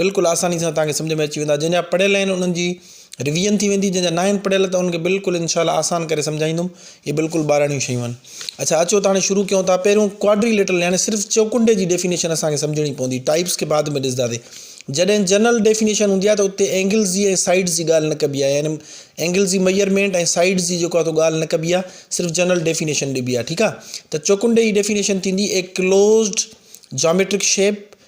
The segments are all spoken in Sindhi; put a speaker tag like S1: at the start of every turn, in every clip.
S1: بلڪل آساني سان توهان کي سمجهه ۾ اچي ويندا جن جا پڙهيل آهن انهن جي ريويزن ٿي ويندي جن جا ناهن پڙهيل ته انهن کي بلڪل انشاء الله آسان ڪري سمجهائيندم هي بلڪل ٻاراڻيون شيون آهن اڇا اچو ته هاڻي شروع ڪيون ٿا پهريون ڪواڊري ليٽرل يعني صرف چوڪنڊي جي ڊيفينيشن اسان کي سمجهڻي پوندي ٽائپس کي بعد ۾ ڏسنداسي جڏهن جنرل ڊيفينيشن هوندي آهي ته اتي اينگلز جي ۽ سائيڊز جي ڳالهه نه ڪبي آهي يعني اينگلز جي ميئرمينٽ ۽ سائيڊز جي جيڪو آهي ڳالهه نه ڪبي آهي صرف جنرل ڊيفينيشن ڏبي آهي ٺيڪ آهي ته چوڪنڊي جي ڊيفينيشن ٿيندي اي ڪلوزڊ جاميٽرڪ شيپ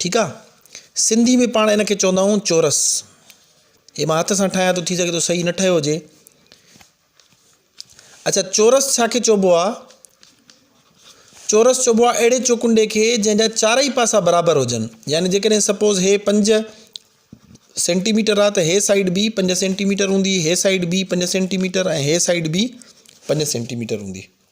S1: ٺيڪ آ سنڌي ۾ پاڻ ان کي چوندا آهيون چورس هي مان هٿ سان ٺاهيان ٿو ٿي سگهي ٿو صحيح نه ٺهيو هجي اچھا چورس ڇا کي چئبو آ چورس چئبو آ اهڙي چوڪنڊي کي جنهن جا چارئي پاسا برابر هجن يعني جيڪڏهن سپوز هي پنج سينٽيميٽر آ ته هي سائيڊ بي پنج سينٽيميٽر هوندي هي سائيڊ بي پنج سينٽيميٽر ۽ هي سائيڊ بي پنج سينٽيميٽر هوندي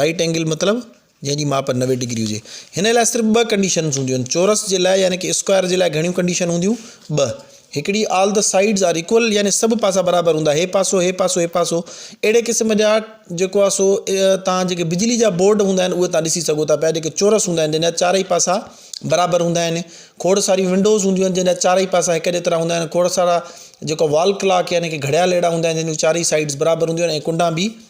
S1: رائيٽ اينگل مطلب جنهن جي ماپ نوي ڊگري هجي هن لاء صرف ٻه ڪنڊيشنس هونديون آهن چورس جي لاء يعني ڪي اسڪوائر جي لاء گهڻيون ڪنڊيشن هونديون ٻه هڪڙي all the sides are equal يعني سڀ پاسا برابر هوندا هي پاسو هي پاسو هي پاسو اهڙي قسم جا جيڪو آهي سو تان جيڪي بجلي جا بورڊ هوندا آهن اهي تان ڏسي سگهو ٿا پيا جيڪي چورس هوندا آهن جن جا چارئي پاسا برابر هوندا آهن کوڙ ساري ونڊوز هونديون آهن جن جا چارئي پاسا هڪ جيترا هوندا آهن کوڙ سارا جيڪو وال ڪلاڪ يعني ڪي گهڙيال اهڙا هوندا آهن جن جون چارئي سائيڊز برابر هونديون آهن ڪنڊا به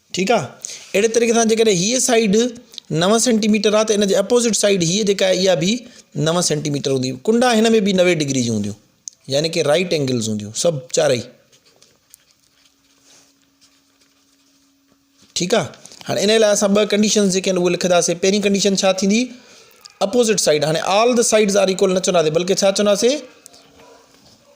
S1: ٺيڪ آ اهڙي طريقي سان جيڪڏهن هيء سائيڊ نو سينٽي ميٽر آ ته ان جي اپوزٽ سائيڊ هيء جيڪا آهي اها به نو سينٽي ميٽر هوندي ڪنڊا هن ۾ به نوي ڊگري جون هونديون يعني ڪي رائٽ اينگلز هونديون سڀ چارئي ٺيڪ آ هاڻي ان لاء اسان ٻه ڪنڊيشنز جيڪي آهن اهي لکنداسي پهرين ڪنڊيشن ڇا ٿيندي اپوزٽ سائيڊ هاڻي all the sides are equal نه چونداسي بلڪه ڇا چونداسي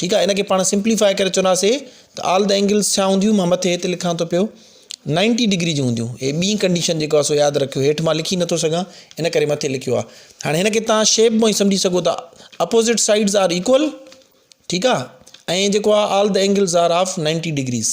S1: ٺيڪ آهي ان کي پاڻ سمپليفاء ڪري چونداسي ته آل د اينگلز ڇا هونديون مان مٿي هت لکان ٿو پيو نائنٽي ڊگري جون هونديون هي ٻي ڪنڊيشن جيڪو آهي سو ياد رکيو هيٺ مان لکي نٿو سگهان ان ڪري مٿي لکيو آهي هاڻي هن کي تان شيپ مون سمجهي سگهو ٿا اپوزٽ سائيڊز آر ايڪول ٺيڪ آهي ۽ جيڪو آهي all the angles are of ninety degrees